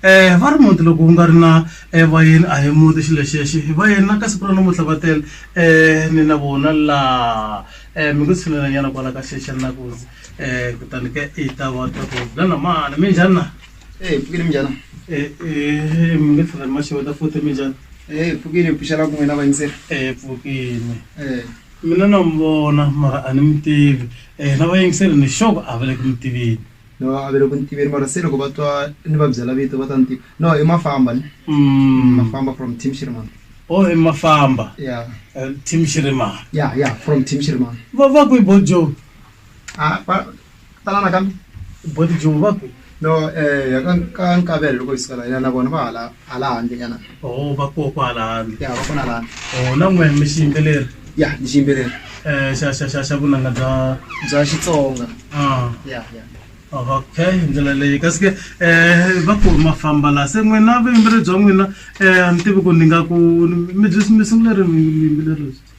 um va ri muti loko ku nga ri na um vayeni a hi muti xilo xexi vayeni na ka siku ra namuntlha va tele um ni na vona laha um mi ku tshinelanyana kwala ka xexa ni na ku um kutani ke i ta va ta ku na namana mi njhani na Hey, pukile mjana. um mi nge tlhela ni maxeweta futhi mi njhani Hey, pukile puxela kun'we na vayinseri. um pfukini Eh, Mina na n'wi vona mara a ni mi tivi um na vayingiseli ni sure ku a va le ku mi tiveni no a va le ku ni tiveni mara se loko va twa ni va byela vito va ta ni tiva no i mafamba ni Mm. mafamba from team shirimani o i mafamba ya um team shirimani ya ya from team shirimani va va kwi bojo a va tanana kambe boti joni va ku no eh ka ka nkavelo loko hi sikala yena na vona va hala hala handle nyana oh va koho ko hala handle ya va kona la oh na n'wina mi xi yimbeleri ya ni xi yimbeleri eh xa xa xa xa vunanga bya bya xitsonga ah ya ya okay hi ndlela leyi kasi ke um va ku ma famba laha se n'wina vuyimbeleri bya n'wina um a ni tivi ku ni nga ku mi byi mi sungule ri vuyimbeleri lebyi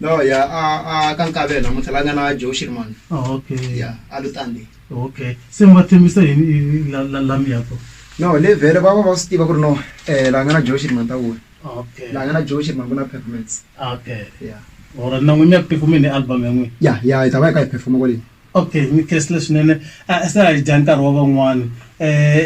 no ya a a ka nkavelo namuntlha la nga na joe shirman Oh, okay ya a lutandi okay se mi va tshembisa yini i- la- la- lami yako no le vhele va va va swi tiva ku ri no um la nga na joe shirman ta vula okay la nga na joe shirman ku na performance okay ya ora na n'wini ya ku tikumeni album ya n'wina ya ya hi ta va hi ka hi performa kwaleni okay ni khensile swinene a se a hi dya nkarhi wa van'wana um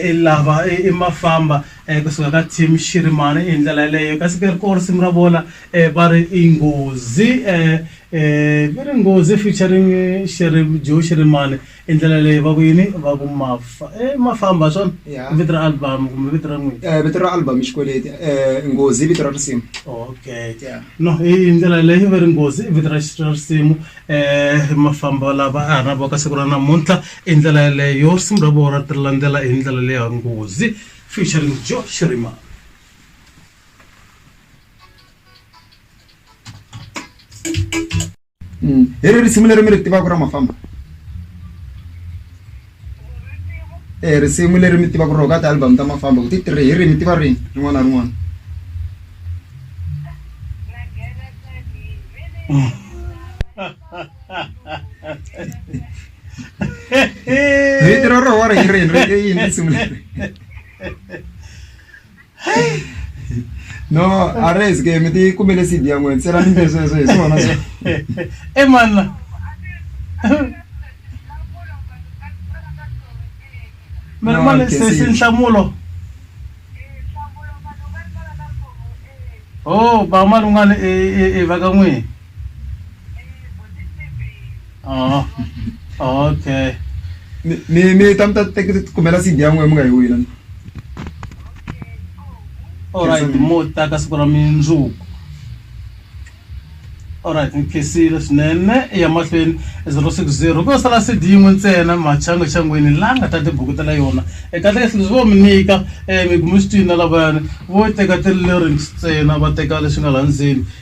i lava i i mafamba um kusuka ka team xirimana i hi ndlela yeleyo kasi ke ri koo risimu ra vona um va ri i nghozi um um va ri nghozi featuring xiri joe xirimane i ndlela yeleyo va ku yini va ku mafa e mafamba hi swona Yeah. vito ra album kumbe vito ra n'wini Eh, vito ra album i xikweleti um nghozi i vito ra risimu okay Yeah. no hi ndlela leyi va ri nghozi i vito ra ra risimu eh mafambo lava a na voka siku ra namuntlha i ndlela yeleyo risimu ra vona ri landzela hi ndlela leya nghozi featuring joe shirima mm. hi ri risimu leri mi ri tivaka ra mafamba E risimu leri mi tivaka rona ka ti-album ta mafambo hi ti three hi ri mi tiva rini rin'wana na rin'wana vito ra roho ri hi rini ri i yini risimu leri. no a ri zi ke mi ti kumele cd ya n'wini se ra ni lesweswo hi swona e manna mi ri mali sesi nhlamulo o ba malungani e va ka n'wini Oh. Okay. Mi mi mi ta mi ta teka kumela CD ya n'wina mi nga yi wina. Alright, mo ta ka siku ra mindzuku. Alright, ni khesile swinene ya mahlweni 060 ko sala CD yin'we ntsena machanga changweni la nga ta tibukutela yona. Eka tlhela tlhela vo mi nyika eh mi gumisitini na lavayani vo teka ti-lyrics ntsena va teka leswi nga la ndzeni.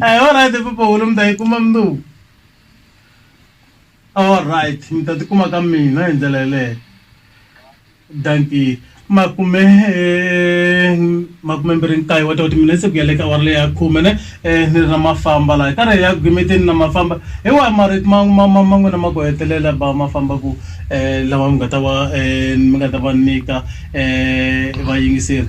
Hey, all right, Papa Hulu, mi ta yi kuma mundzuku. All right, mi ta tikuma ka mina hi ndlela yeleyo. Dankie. Makume eh, makume mbirhi nkaye wa toti minetse ku ya le ka awara leyi ya khume ne eh, ni ri na mafamba laha ka re ya ku gimeteni na mafamba hi wahi marito ma ma- ma- ma n'wina ma ku hetelela ba mafamba ku eh, lawa mi nga ta va eh, mi nga ta va nyika eh, vayingiseri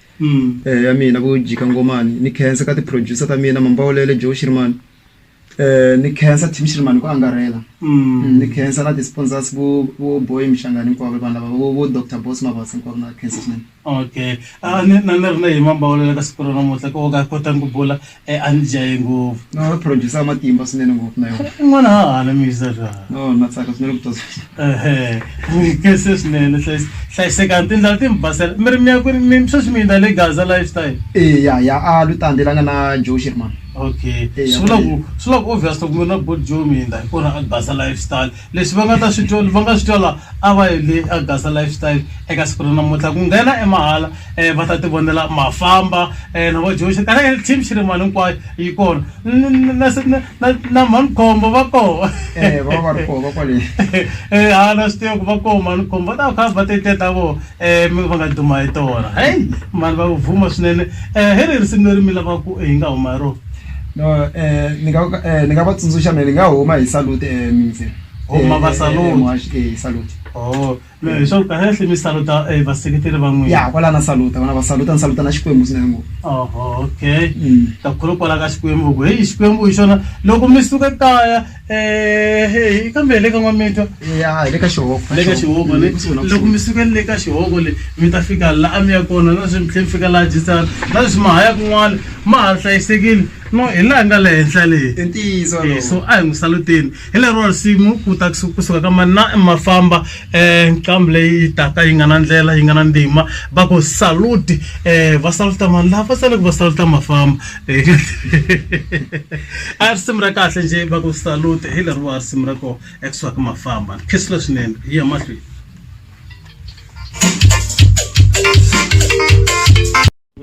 mm. eh, ya mina vo jika ngomani ni khensa ka ti-producer ta mina mambawulele joe shirman eh, ni khensa team shirman ku angarhela mm. mm. ni khensa na ti-sponsors vo vo boy mixangani hinkwavo vanhu lava vo vo doctor boss mavasa hinkwavo na khensa swinene okay a ah, ni na ni ri na hi mambawulele ka siku ra namuntlha ko ka kotani ku bula E a ni jaye ngopfu. No producer matimba swinene ngopfu na yona. I n'wana ha hala misa swa. No na tsaka swinene ku tosa. Ehe. Ni kese swinene hlayis hlayiseka tindlela ti mi basela. Mi ri mi ya kwini mi sweswi mi yinda le Gaza lifestyle. E ya ya a lutande la nga na Joe Sherman. Okay. Swi vula ku swi vula ku obvious loko mi ri na Bourjoo mi yinda hi kona a Gaza lifestyle. leswi va nga ta swi twa va nga swi twala a va yele a gasa lifestyle eka siku ra namuntlha ku nghena emahala um va ta ti vonela mafamba um na vo joxe kana team xi ri mali hinkwayo yi kona na manikhombo va koho eh, eh, a na swi tiva ku va koho manikhombo va ta kha va teteta voho um va nga duma hi tona heyi mani va vuma swinene um hi ri risimu leri mi lavaku hi nga huma hi rona no ni nga ni nga va tsundzuxa mina ni nga huma hi salute mintse Huma va salute. Muhaxi, eh, hi salute Oh, hi swa ku kahle kahle mi saluta eh, vaseketeri va n'wina. ya kwala na saluta vana va saluta ni saluta na xikwembu swinene ngopfu Oho, okay. Mm. Ta khulu kwala ka Xikwembu ku heyi Xikwembu hi xona loko mi suka kaya ehe hi kambe hi le ka n'wamitwa ya hi le ka xihogo le ka xihogo le Kusuhi na loko kusuhi. mi sukele le ka xihogo le mi ta fika la a mi ya kona na sweswi mi tlhela mi fika laha jisana na sweswi ma ha ya kun'wana ma ha hlayisekile no hi laha nga le henhla leyi i ntiyiso Eh, walowo. so a hi n'wi saluteni hi lero risimu ku ta kusu- kusuka ka mani na mafamba um nqambi leyi yi taka yi nga na ndlela yi nga na ndima va ku saluti um va saluta mani lava va tsale ku va saluta mafamba a risimu ra kahle nje va ku salute hi leriwa risimu ra ko exwak mafamba khisile swinene hi ya mahlweni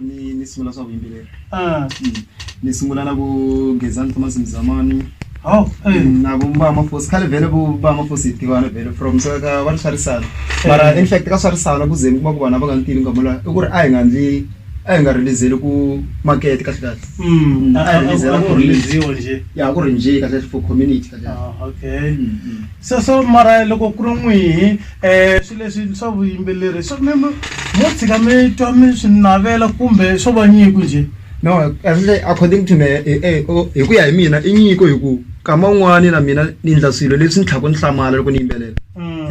ni ni sungula swa vuyimbeleri ah. hmm. ni sungula na ku gezani thomas mzamani oh, na ku mba mafosi khale vhele ku ba mafosi hi tivana vhele from so ka va ri swarisana mara in fact ka swarisana ku ze ni kuma ku vana va nga ni tivi nkamula i ku ri a hi nga ndli a hi nga rhilizeli ku makete kahlekahle ya ku rhindziwe kahlekahle for community sweswo mara loko ku ri n'wihi um swi leswi swa vuyimbeleri swa mi mo tshika mi twa mi swi navela kumbe swo va nyiko njhe no kahlekahle according to me hi ku ya hi mina i nyiko hi ku nkama wun'wani na mina ni endla swilo leswi ni tlhelaku ni hlamala loko ni yimbelela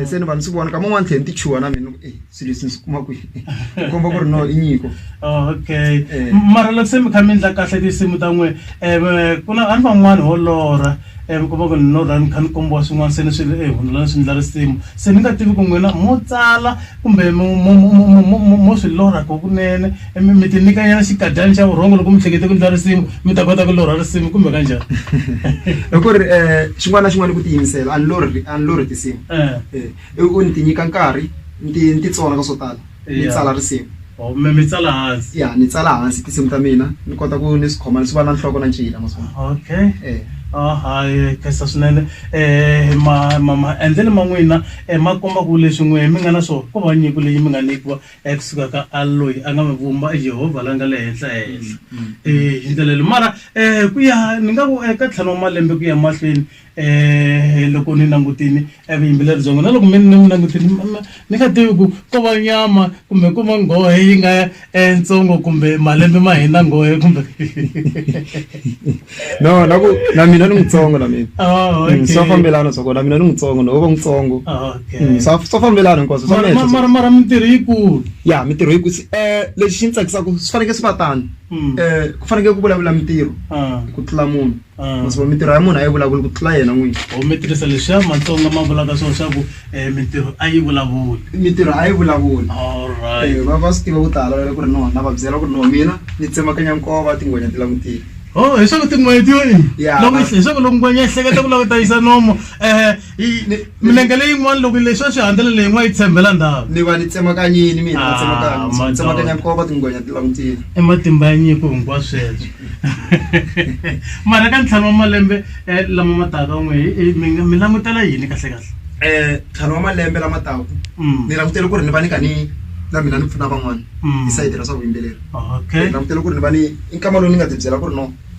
se ni va ni swi vona nkama wun'wani ni tlhe ni ti chuha na mina ni ku . swilo leswi ni swi kuma kwihi ku komba ku ri no i nyiko okay eh. mara loko se mi kha mi endla kahle tinsimu ta n'we um ku na a ni van'wani ho lorha um mi komba ku ni lorha mi kha ni kombiwa swin'wana se ni swi e hundzula ni swi endla risimu se ni nga tivi ku n'wina mo tsala kumbe mo swi lorha ko kunene mi ti nyikanyana xikadyani xa vurhongo loko mi hlekete ku endla risimu mi ta kota ku lorha risimu kumbe ka njhani hi ku ri um xin'wana na xin'wana i ku tiyimisela a ni lorhi a ni lorhi tinsimu eh. i ku ni ti nyika nkarhi ni ti ni ti tsona ka swo tala ni tsala risimu or mi mi tsala hansi ya ni tsala hansi tinsimu ta mina ni kota ku ni swi khoma ni swi va na nhloko na ncila ma swi vona okay Eh. Ah, hayi khensa swinene um ma ma maendlelo ma n'wina um ma komba ku leswi n'we mi nga na swona ko va nyiko leyi mi nga nyikiwa um kusuka ka a loyi a nga mi vumba i yehovha la nga le henhla henhla um hi ndlela leyi mara um ku ya ni nga ku eka ntlhanu wa malembe ku ya mahlweni Eh, loko ni langutini evuyimbeleri byongo na loko mi ni n'wi langutini ni nga tivi ku ko va nyama kumbe ku va nghohe yi nga entsongo eh, kumbe malembe ma hina nghohe kumbe no na ku na mina ni mutsongo na mina oh, mm, swa fambelana swa kona mina ni mutsongo no va mutsongo oh, mm, swa swa fambelana hinkwaswo mara mara mintirho yikulu ya mintirho yikulu um lexi xi ni tsakisaka swi fanekele swi va tano um ku fanekele ku vulavula mintirho ah. ku tlula munhu masiva mintirho ya munhu a yi vulavuli ku tlula yena n'wini or mi tirhisa leswi ya matsonga ma vulaka swona swa ku um mintirho a yi vulavuli mintirho a yi vulavuli allright va va swi tiva ku tala loko ku ri nona va byela ku ri no mina ni tsemakanya nkova tingwenya ti langutile o hi swa ku tin'hweti yo i ya leswaku loko ngwenya ehleketa ku lava ku tayisa nomo um Hi- ni- milenge leyin'wana loko leswi a swi handzela leyin'wana yi tshembela ndhawu ni va ni tsemakanyini mina Ah, tsemakanya madoda. tsemakanya nkova tingwenya ti langutile i matimba ya nyiko hinkwawu sweswo mara ka ntlhanu wa malembe eh, lama ma taka n'we hi- hi- mi nga- mi langutela yini kahle kahle um ntlhanu wa malembe lama taku Mm. ni langutele ku ri ni va ni ka ni na mina ni pfuna van'wana Mm. hi sayiti ra swa vuyimbeleri ni okay langutele ku ri ni va ni i nkama lowu ni nga ti byela ku ri no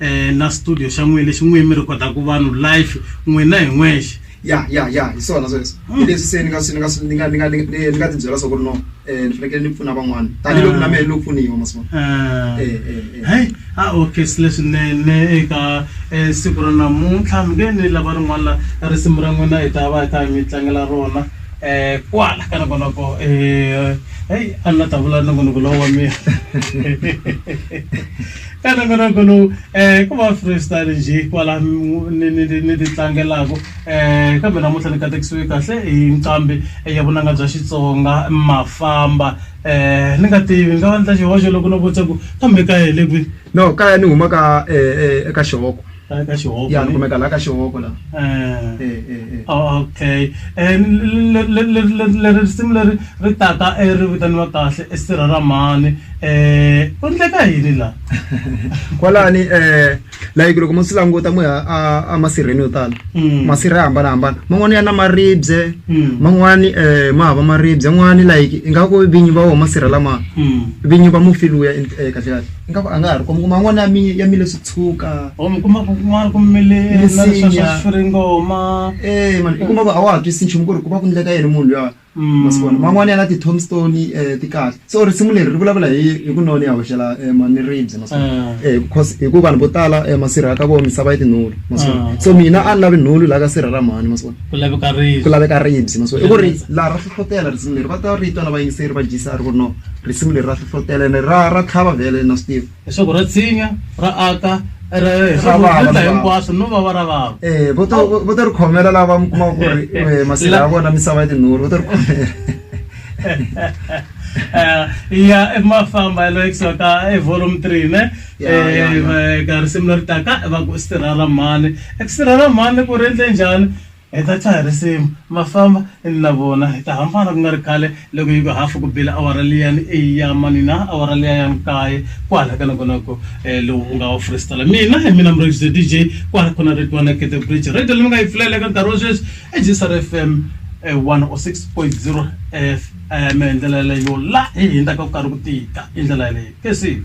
eh na studio xa n'wina lexi n'wini mi rhikodaku vanhu life n'wina hi n'wexe ya ya ya hi swona sweswo hmm. hi leswi se ni nga swi ni nga swi ni nga ni nga ni nga ti byela swa ku ri no um ni fanekele ni pfuna van'wana tanihiloko na ah. mehe ni lo pfuniwa masivona ah. eh, eh, eh. hayi a ah, okay swi leswinene eka siku ra namuntlha mi nge ni lava rin'wana la risimu ra n'wina hi ta va hi ta mi tlangela rona um kwala ka nokonoko um heyi a ni la ta vula nongonoko lowo wa mina ene minoko lowu um ku va freestyle nje kwala ni ti tlangelaka um eh, kambe namuntlha ni katekisiwe kahle hi nqambi ya vunanga bya xitsonga mafamba um ni nga tivi ni nga va ni ta xihoxo loko no vutisa ku kambe kaya hi le kwini no kaya ni huma ka um eka xihoko Laha ka xihoko. Ya ni kumeka laha ka xihoko laha. Eh. Eh eh eh. Okay leri risimu leri ri taka ri vitaniwa kahle i sirha ra mhani ku endleka yini laha. Kwalani like loko mo swi languta mo ya a masirheni yo tala hmm. masirha ya hambanahambana man'wani ya na maribye hmm. man'wani ma hava maribye n'wani like ingaku vinyi va wo masirha lama hmm. vinyi va mufi luya eh, kahle kahle ingaku a nga ha ri kuma man'wani ya ya mile tshuka or mi kuma ku kun'wana ku mile na leswa swa swiringoma eh mani i kuma ku a wa ha twisisi nchumu ku ri ku va ku ndleka yini munhu luya masiku wona man'wani ya na ti-tombstone um ti kahle so risimu leri ri vulavula hi hi ku none ya hoxela um mani ribye masiku um because hi ku vanhu vo tala um masirha ka vona misava ya tinhulu masiku so mina a ni lavi nhulu laha ka sirha ra mhani masiku ku laveka ribye ku laveka ribye masiku i ku ri laha ra hlohlotela risimu leri va ta ri twa na vayingiseri va jisa ri ku ri no risimu leri ra hlohlotela ene ra ra tlhava vhele na swi tiva leswaku ra tshinya ra aka rinza hinkwaswo no va va ra vava eh, vo to ri khomela lava va mi kumaka ku ri eh, masila ya vona misava ya tinhuri vo to ri khomela eh, ya ma famba ya loyekisiwa ka e volume three ne ka risimu leri taka va ku sirha ra mhani eku sirha ra mhani ku ri endle njhani Hi ta chaha risimu, ma famba, ni na vona hi ta hambana ku nga ri khale loko yi ku hafu ku bile awara liya ni eyi ya mani na, awara liya ya nkaye, kwala ka nongonoko eh, lowu u nga wa Freestaler. Mina hi mina Murhangisi the DJ, kwala ku na Ritwa na Kete Bridge. Radio leyi mi nga yi pfulela eka nkarhi wa sweswi i Jesar FM eh, 106.0 FM. Hi ndlela yaleyo la hi hindzaka ku karhi ku tika, hi ndlela yaleyo. Kesile.